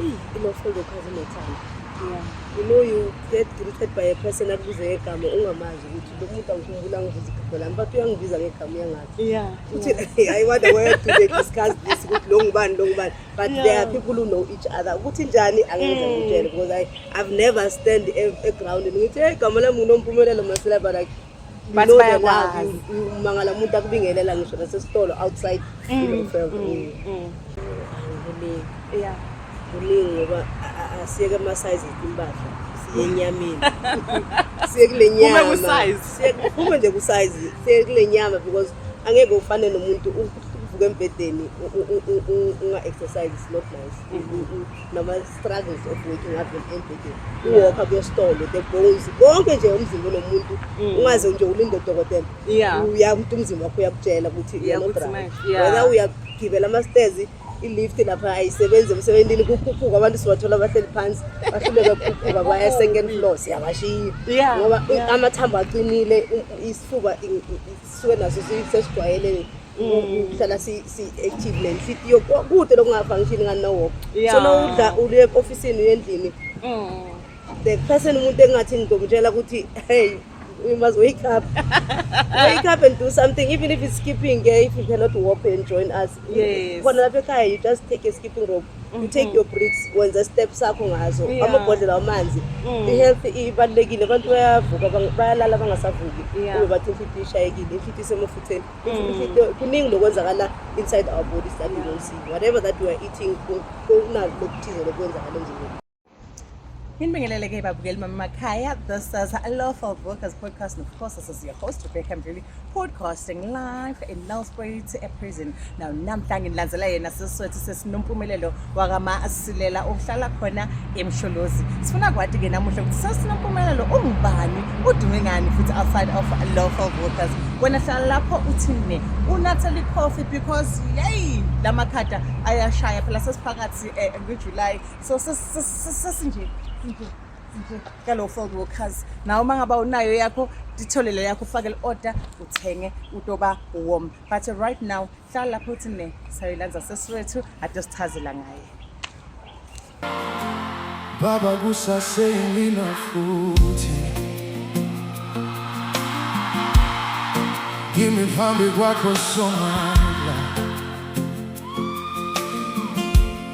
eyi inofundo khazi nethanda you know you get greeted by a person akubize ngegama ungamazi ukuthi lo muntu angikhumbula angibiza igama lami but uyangibiza ngegama uyangazi ukuthi i wonder where do they discuss this ukuthi lo ngubani lo ngubani but yeah. there are people who know each other ukuthi njani angeke mm. ngitshele because i i've never stand egroundini ngithi hey igama lami ngunompumelelo masela but like bathi bayakwazi umangala umuntu akubingelela ngisho nasesitolo outside mm, mm, mm. kuningi yeah kuningi ngoba asiyeke ama-size impahla siye enyameni siye kule nyama siye nje ku-size siye kule nyama because angeke ufane nomuntu uvuka embhedeni unga-exercise is not nice mm-hmm. nama-struggles of working ave embhedeni uwokha kuyositolo the bones konke nje umzimba unomuntu mm. ungaze nje ulinde udokotela uya umuntu umzimba wakho uyakutshela ukuthi whether uyagibela ama-stairs i-lift lapha ayisebenzi emsebenzini kukhuphuka abantu sibathola bahleli phansi bahluleka kukhuphuka kwaya second floor siyabashiya ngoba amathambo aqinile isifuba sisuke naso sesijwayelele uhlala si-active le nhliziyo kude lokungavangishini ngani nowoko so nowudla uye ofisini uyendlini the person umuntu engathi ngizomtshela ukuthi hey we must wake up. wake up and do something, even if it's skipping. Yeah, if you cannot walk and join us, yes. you just take a skipping rope. you mhm. take your bricks wenza step sakho ngazo amabhodlela wamanzi mm. i-health ibalulekile abantu bayavuka bayalala bangasavuki ube bathi imfitho ishayekile imfitho isemufutheni mm. kuningi lokwenzakala inside our body that we don't see whatever that we are eating kunalo lokuthize lokwenzakala emzimbeni Inibingelele ke babukeli mamakhaya. This is Lawful Workers Podcast and of course this is your host Rebecca Mdluli podcasting live in Nelspruit a prison. Now namhla ngilandzela yena siswethu sesinompumelelo wakama asilela ohlala khona eMsholozi. Sifuna kwathi ke namuhla ukuthi sesinompumelelo ungubani udume ngani futhi outside of Lawful Workers. Wena hlala lapho uthini unatha coffee because yay lamakhada ayashaya phela sesiphakathi eh, ngeJuly so sesinje sinje sinje kalo fold workers nawe uma ngaba unayo yakho nditholele yakho ufake li-order uthenge utoba warm but right now hlala lapho uthi ne sayilanza sesiwethu ade sichazela ngaye baba kusaseyilina futhi kimi phambi kwakho somala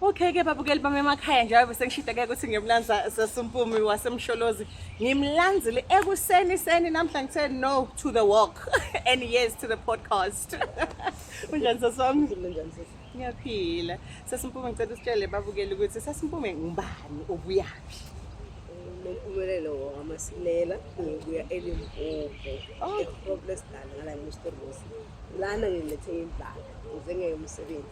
Okay ke babukeli bami emakhaya njengoba besengishideke ukuthi ngimlanza sesimpumi wasemsholozi ngimlanzile ekuseni seni namhla ngithe no to the walk and yes to the podcast unjani sasami ngilinjani sisi ngiyaphila sesimpumi ngicela usitshele babukeli ukuthi sesimpumi ngubani ubuyaphi nompumelelo wamasilela ngibuya elimpopo ehoplesdal ngala musterbosi lana ngilethe imbala ngize ngeyomsebenzi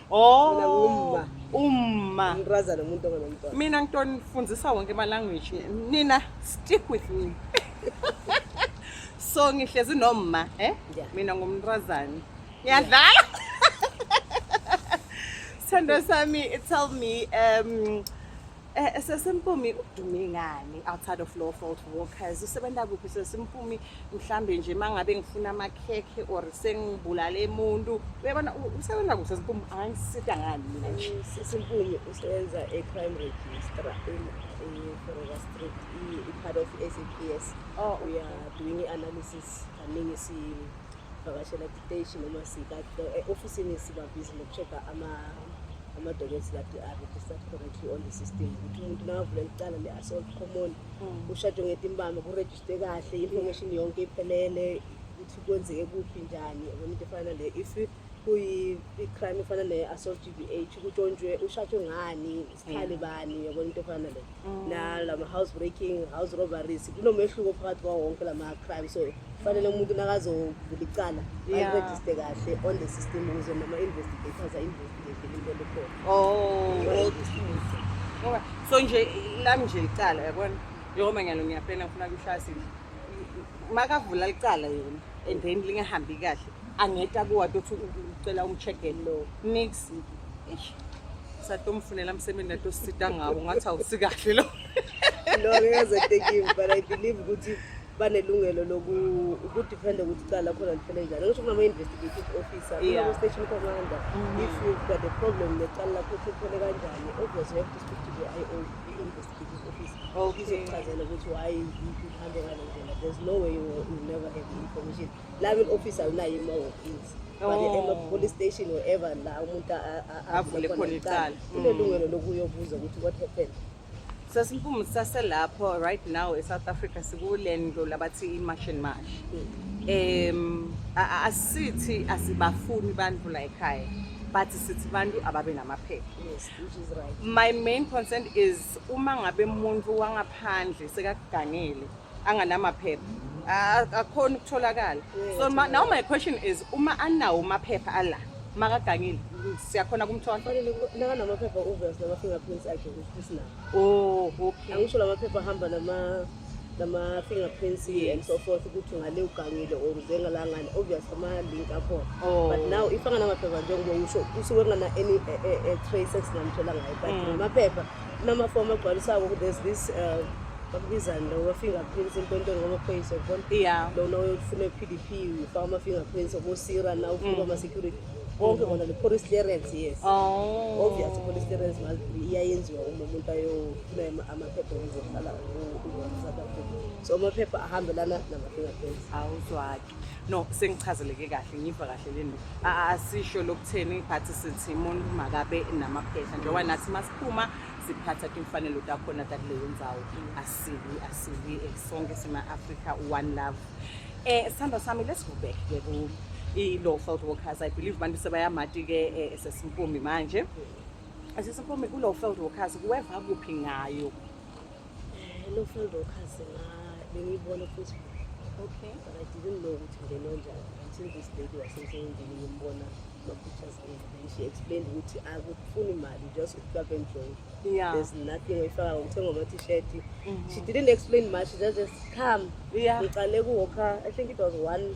Oh. Mina ngumma. Umma. Umrazana umuntu ongenomntwana. Mina ngitoni fundisa wonke ama language. Nina stick with me. so ngihlezi nomma eh yeah. mina ngumntrazane ngiyadlala yeah. Sandra Sami, tell me, um, Eh sesimpumi udume ngani outside of low fault workers usebenza kuphi sesimpumi mhlambe nje mangabe ngifuna amakhekhe or sengibulale umuntu uyabona usebenza kuphi sesimpumi angisita ngani mina nje eh, sesimpumi usebenza e crime register in in Florida Street i part of SAPS oh we are doing analysis kaningi si vakashela siteshi noma sika e-ofisini sibabhizi ngoku-check-a ama-documents kade a-registered correctly on the system ukuthi umuntu nakavula licala le-assault common hmm. ushajwe ngetimbama kurejiste kahle i-information yonke iphelele ukuthi kwenzeke kuphi njani yabona into efana nale if kuyi-crime efana ne-assault g b h kutshontshwe ushajwe ngani sikhale bani yabona into efana nale mm. nalama house breaking house robberies kunomehluko phakathi kwawo wonke lama crime so kufanele umuntu nakazovula icala ayiregiste kahle on the system ukuze noma investigators ainvestigate into elikhona oh, okay so nje lami nje icala yabona njengoba ngiyalo ngiyapena ngifuna kuhlasi makavula licala yona and then lingahambi kahle angeta kuwati othi ucela umchegeni lo nix satomfunela msebenzi atosita ngawo ngathi awusikahle lo lo ngeze tekim but i believe ukuthi banelungelo lokudiphenda ukuthi cala lakhona liphele njani ngisho kunama-investigative officer kunama-station commander mm-hmm. if you've got a problem necala lakho ukuthi liphele kanjani obvious you have to speak to the i o i-investigative officer izokuchazela ukuthi why ihambe ngale ndlela there's no way you will never have the information la will office awunayo imawofisi police station wherever la umuntu avule khona icala unelungelo mm. lokuyobuza ukuthi what happened sasimpumu saselapho right now e-south africa sikule ndlu labathi i-march and march um asithi asibafuni bantu la ekhaya but sithi bantu ababe namaphepha my main concern is uma ngabe muntu wangaphandle sekakugangele anganamaphepha akukhona ukutholakala so now my question is uma anawo maphepha ala makagangile siyakhona kumthola nakanamaphepha uvers nama-fingerprints akhe isinawo o oh, okay angisho lamaphepha ahamba nama nama-fingerprints and so forth ukuthi ngale ugangile or uzengalangani obvious ama-link akhona oh. but now if anganamaphepha njengoba usho usuke kungana-any eh, eh, eh, trace esingamthola ngayo but mm. ngamaphepha Kunamafomu agcwalisako there's this uh, bakubizani lo ma-fingerprints empontweni kwamaphoyisa yabona Yeah. lona oyofuna e-p d p ufaka ama-fingerprints obosira na ufuna ama-security konke kona ne-police clearance yes Oh. obvious i-police clearance must be iyayenziwa uma umuntu ayofuna ama- amaphepha okuzohlala u- u- south africa so amaphepha ahambelana nama-fingerprints Awuzwaki. no sengichazeleke kahle ngiva kahle le nto asisho lokutheni but sithi umuntu makabe namaphehla njengoba nathi masiphuma siphatha timfanelo takhona takuleyo ndzawo asibi asibi eh, sonke sima-afrika one love um sithandwa sami let's go back ke ku i-law felt workers i believe abantu sebayamati ke eh, esesimpumi manje esesimpumi ku-law felt workers kuweva kuphi ngayo Eh, lo field workers na bengiyibona kuFacebook. Okay. But I didn't know ukuthi ngeno njani until this lady wasemsebenzini ngimbona ma-pictures and then she explained ukuthi akufuni imali just ukuklapha enjoy. Yeah. There's nothing oyifaka ngokuthenga ama-t-shirt. Mhm. She didn't explain much, she just just come. Yeah. Ngiqale kuwalker, I think it was one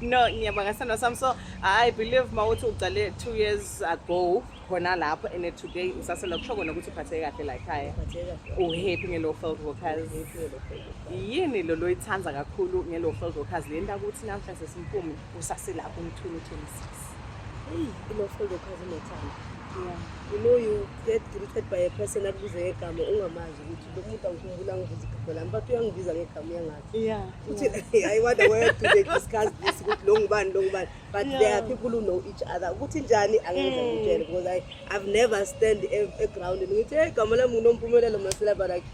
no ngiyabonga sithando sami so i believe uma uthi uqale two years ago khona lapho and today usasela kusho kona ukuthi uphatheke kahle la ekhaya uhappy ngelo field workers yini lo loyithanda kakhulu ngelo field workers le nto ukuthi namhla sesimphumi usaselapho umthuni uthulisi eyi ilo field workers unothando you know you get greeted by a person akubize ngegama ungamazi ukuthi lo muntu angikhumbula ngivuza igama lami but uyangibiza ngegama uyangazi Yeah. Futhi I wonder where do they discuss this ukuthi lo ngubani lo ngubani but yeah. there are people who know each other ukuthi njani angeke mm. ngitshele because I I've never stand e, e ground ngithi hey gama lami unompumelelo masela but like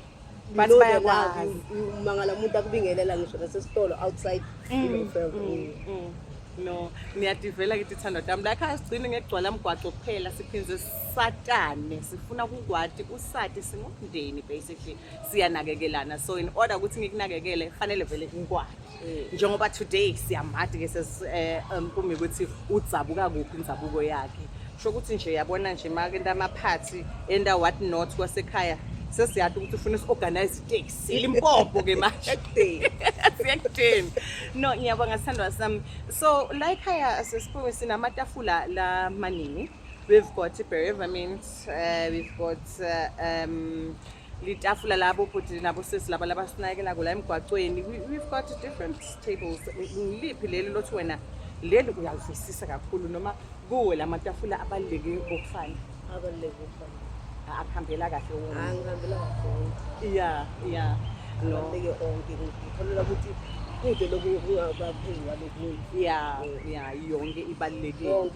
but bayakwazi umangala umuntu akubingelela ngisho nasesitolo outside mm. you know, mm. Mm. mm. no ngiyadivela kithi thando dami la khaya sigcine ngekugcwala mgwaco kuphela siphindze satane sifuna kukwati usati singumndeni basically siyanakekelana so in order ukuthi ngikunakekele fanele vele ngikwakhe mm. njengoba today siyamadi ke eh, um, kumi ukuthi udzabuka kuphi indzabuko yakhe sho ukuthi nje yabona nje make into amaphathi enda what not kwasekhaya sesiyati ukuthi ufuna si-organize iteksi ilimpopo ke manje siyekudeni no ngiyabonga sithandwa sami so la ekhaya sesiphiwe sinamatafula la maningi We've got Bereva mint, uh, we've got uh, um, litafula labo bhuti nabo sisi laba labasinakela kula emgwaqweni we've got different tables ngiliphi leli lothi wena leli uyalivisisa kakhulu noma kuwe la matafula abaluleke ngokufana abaluleke ngokufana akuhambela kahle wona angihambela kahle wonke iya iya abaluleke onke ngikholelwa ukuthi kude lokhu kungabaphezu kwalokunye ya ya yonke ibalulekile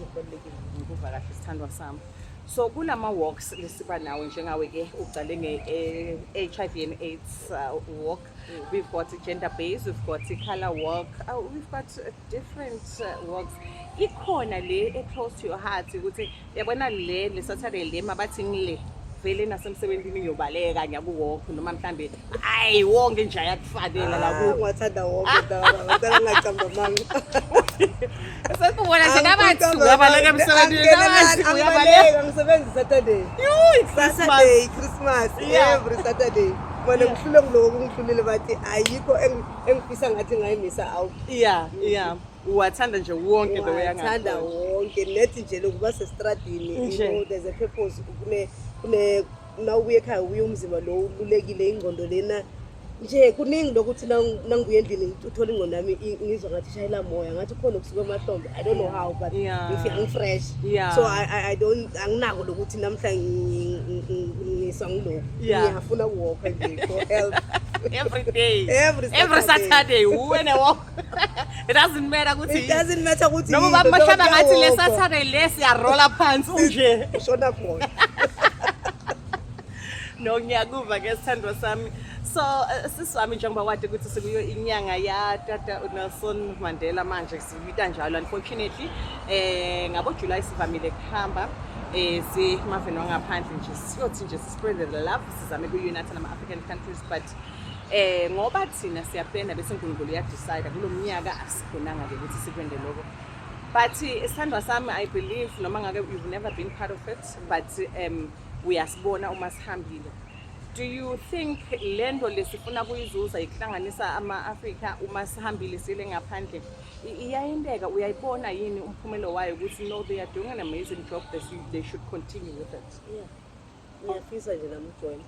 ngikuva kahle sithandwa sami so kulama walks lesiba nawo njengawe ke uqale nge eh, HIV and AIDS uh, walk mm. we've got gender based we've got color walk uh, we've got uh, different walks ikhona le e close to your heart ukuthi yabona le le Saturday le mabathi ngile vele nasemsebenzini ngiyobaleka ngiyakuwalk noma mhlambe Hayi wonke nje ayakufanela la ku. Ngiwathanda wonke dala. Ngicela ngacamba manga. Sesibona nje nabathi uyabaleka emsebenzini nabathi uyabaleka ngisebenza Saturday. Yuu Saturday Christmas every Saturday. Bona ngihlule ngiloko kungihlulile bathi ayikho engifisa ngathi ngayimisa awu. Yeah yeah. uwathanda nje wonke the way angathanda wonke nethi nje lokuba sestradini you know there's a purpose kune kune uma ubuye ekhaya ubuye umzimba lo ululekile ingqondo lena nje kuningi lokuthi nangibuye endlini uthole ingqondo yami ngizwa ngathi ishayela moya ngathi khona okusuke emahlombe i don't know how but angifresh so i don't anginako lokuthi namhla ngiswa ngiloku ngiyafuna ukuwokha nje for help every day every saturday uwene walk It doesn't matter ukuthi It doesn't matter ukuthi noma yini, bamashlaba noma ngathi le ugogo. Saturday le siyarola phansi unje. Ushona khona. No ngiyakuva ke sithandwa sami. So eh, sisi wami njengoba wade ukuthi sikuyo inyanga ya tata uNelson Mandela manje siyita njalo unfortunately eh ngabo July sivamile kuhamba eh simaveni wangaphandle nje siyothi nje sispread the love sizame kuunite nama African countries but Christ eh ngoba thina siyaplana bese uNkulunkulu uyadecide kulomnyaka asikhonanga ke ukuthi sikwende lokho but isithandwa eh, sami i believe noma ngake you've never been part of it but um uyasibona uma sihambile do you think lento lesifuna kuyizuza ikuhlanganisa ama-afrika uma sihambile sile ngaphandle iyayenteka uyayibona yini umphumelo wayo ukuthi no they are doing an amazing job they should continue with it yeah. Ngiyafisa nje nami ujoyina.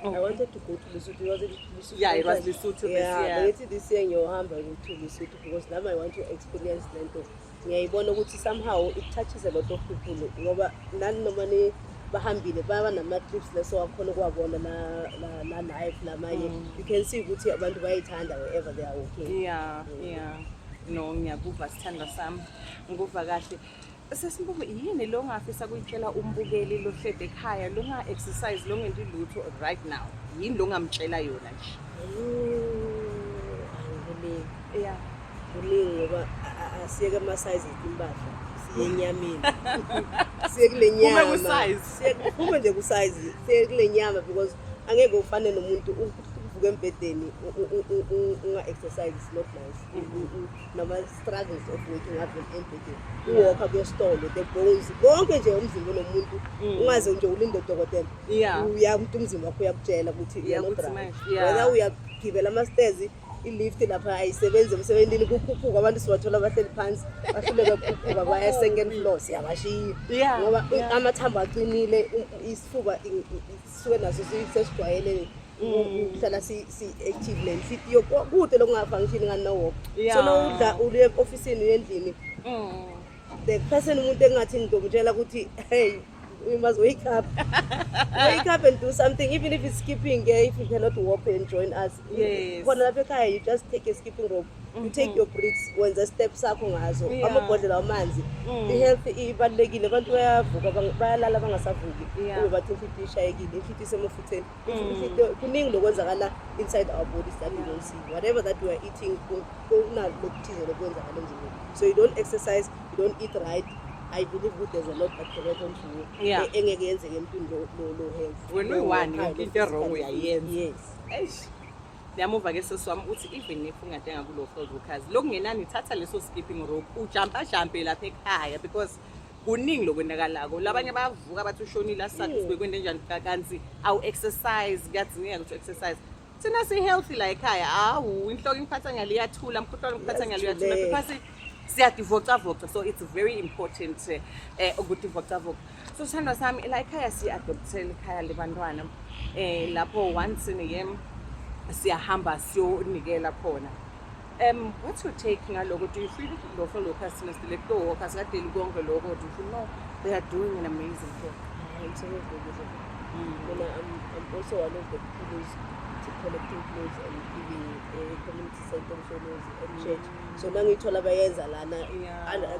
Okay. I wanted to go to Lesotho. It was Lesotho. Yeah, it was Lesotho yeah, this year. But this year ngiyohamba to Lesotho because now I want to experience lento. Ngiyayibona ukuthi somehow it touches a lot of people ngoba nani noma ni bahambile baba nama-clips leso wakhona ukuwabona na-live namanye mm. you can see ukuthi abantu bayayithanda wherever they are working yeah, mm. yeah. no ngiyakuva sithandwa sami nguva kahle Sesimbuku yini lo ngafisa kuyitshela umbukeli lo hlede ekhaya lo nga exercise lo ngenti lutho right now yini lo ngamtshela yona nje angile yeah kuningi ngoba asiyeke ama size impahla yenyameni siye kule nyama siphuma nje kusayizi siye kule nyama because angeke ufane nomuntu uvuke embhedeni unga-exercise is not nice nama-struggles of working ave embedeni uwokha kuyesitolo the boys konke nje umzimba nomuntu mm. ungaze nje ulinde udokotela uya umuntu umzimba wakho uyakutshela ukuthi whether uyagibela ama-stairs i-lift lapha ayisebenzi emsebenzini kukhuphuka abantu sibathola bahleli phansi bahluleke kukhuphuka baya second floor siyabashiya ngoba amathambo aqinile isifuba sisuke naso sesijwayelele ukuhlala mm. si-active le nhliziyo kude lokungafangishini ngani nowoko so nowudla uye ofisini uyendlini mm. the person umuntu engathi ngizomtshela ukuthi hey we must wake up wake up and do something even if it's skipping eh, if you cannot walk and join us khona lapha ekhaya you just take a skipping rope you take mhm. your bricks wenza step sakho ngazo yeah. amabhodlela wamanzi mm. i-health ibalulekile abantu bayavuka bayalala bangasavuki yeah. ube bathi imfitho ishayekile imfitho isemufutheni mm. kuningi lokwenzakala inside our bodies that yeah. we don't see whatever that we are eating kunalo lokuthize lokwenzakala emzimbeni so you don't exercise you don't eat right I believe good there's a lot that can happen to you. Yeah. E-, engeke yenzeke empini lo lo health. When we want, into wrong uyayenza. Yes. Eish. Ngiyamuva ke sisi wami uthi even if ungatenga kulo field workers lokungenani thatha leso skipping rope ujampa jampe lapha ekhaya because kuningi lokwenakalako labanye bayavuka bathi ushonile asathi mm. sibekwende njani kanti awu exercise kuyadzingeka ukuthi exercise thina si healthy la ekhaya awu inhloko ingiphatha ngaliyathula mkhuhlwane ngiphatha ngaliyathula because siyadivocavoca so it's very important eh, eh ukudivocavoca so sithandwa sami la ekhaya siyi-adoptele ikhaya libantwana um eh, lapho once in a year siyahamba siyonikela khona um what's your take ngaloko do you feel lokho lokho asinasile kutowoka sikadeli konke loko do you feel no they are doing an amazing job mm. mina I'm, I'm also one of the people collecting clothes and giving uh, community centers and church so uma ngiyithola bayenza lana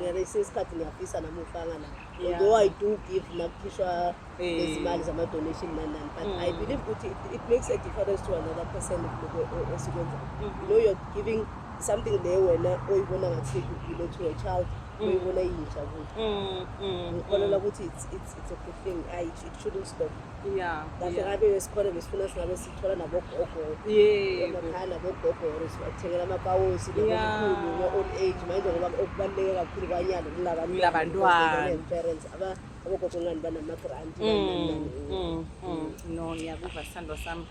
ngesinye isikhathi ngiyafisa nami ukufaka la although i do give makukhishwa nezimali zama-donation nanani but i mm. believe ukuthi it makes a difference to another person esikwenzayo mm-hmm. you know you're giving something le wena oyibona ngathi kugilo to a child mm. oyibona iyintsha kuyo mm, ngikholelwa ukuthi it's a good thing it shouldn't stop Yeah. Kahle yeah. ngabe esikhona besifuna singabe sithola nabogogo. Yeah. Emakhaya nabogogo or sibathengela amapawusi nabokhulu ngo old age manje ngoba okubaluleke kakhulu kwanyalo kulabantwana. Kulabantwana. Parents aba abogogo ngani banama grant. Mm, mm, mm. No ngiyakuva sithandwa sami.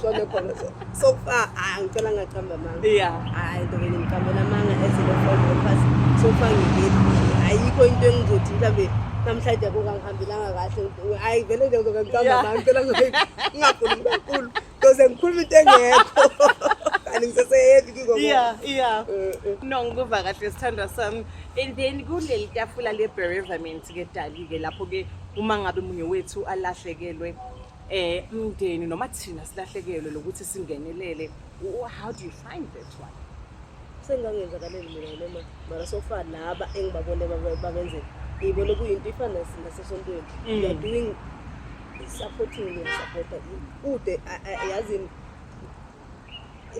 Sona khona so. So far ah ngicela ngaqamba amanga. Yeah. Hayi ntoke ngimqambela amanga ezile follow pass. So far ngibili. Ayikho into engizothi mhlambe namhlanje akungangihambelanga kahle. Hayi vele nje ngizoke ngiqamba amanga ngicela ngingafuni kakhulu. Because ngikhuluma into engekho. Kanti ngiseseyephi kiko. Yeah, yeah. Eh, eh. No ngikuva kahle sithandwa sami. And then kuleli tafula le bereavement ke dali ke lapho ke uma ngabe munye wethu alahlekelwe eh umndeni noma thina silahlekelwe lokuthi singenelele how do you find that one sengangenzakaleli mina noma mara sofa laba engibabone babenze ngiyibone kuyinto ifana nasesontweni mm. you're doing supporting and supporter ude yazi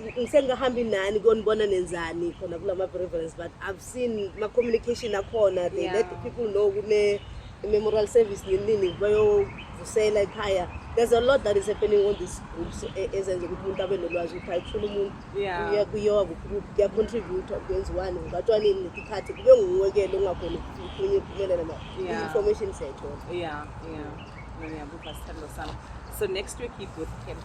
ngisengahambi nani konibona nenzani khona kula ma-preference but i've seen ma-communication akhona they yeah. let the people know kune memorial service ninini bayovusela ekhaya there's a lot that is happening on this groups e, ezenza ukuthi umuntu abe nolwazi ukuthi ayifuna umuntu uya kuyowa kuyacontribute kwenziwani ngatwanini netikhathi kube nguwekele ungakhona ukunye iphumelela ma information siyayithola yeah yeah ngiyabuva sithando sami so next week yibooth camp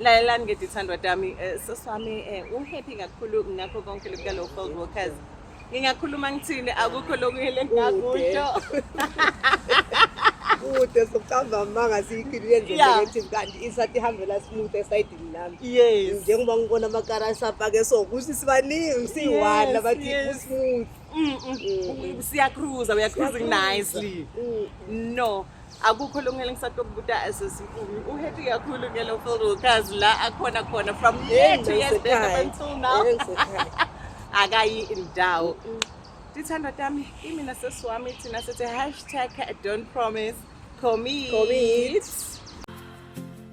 lalelani ke dithandwa dami eh, soswami eh, uhappy kakhulu ngakho konke lokukalo field workers ngingakhuluma ngithini akukho lokuyele ngakusho kude sokucamba amanga siyikhilile njengokuthi kanti isathi ihambela smooth esayidini lami yes njengoba ngibona amakara asapake so kuthi sibaningi siyi-one abathi usmooth mm, mm. mm. siyacruza uyacruising nicely mm. no akukho lungele ngisatokubuta asesinkulu uhappy kakhulu ngelo field workers la akhona khona from year to year until now akayi indawo tithandwa tami imina sesiwami thina sithi hashtag don't promise commit, commit.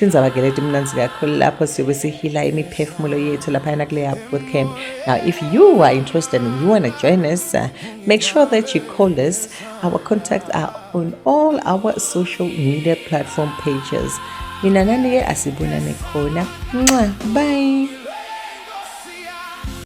Indzaba ke leti mnanzi kakhulu lapho siyobe sihila imiphefumulo yethu laphayana kuleya bootcamp. Now if you are interested and you want to join us, uh, make sure that you call us. Our contacts are on all our social media platform pages. Mina nani ke asibonane khona. Bye.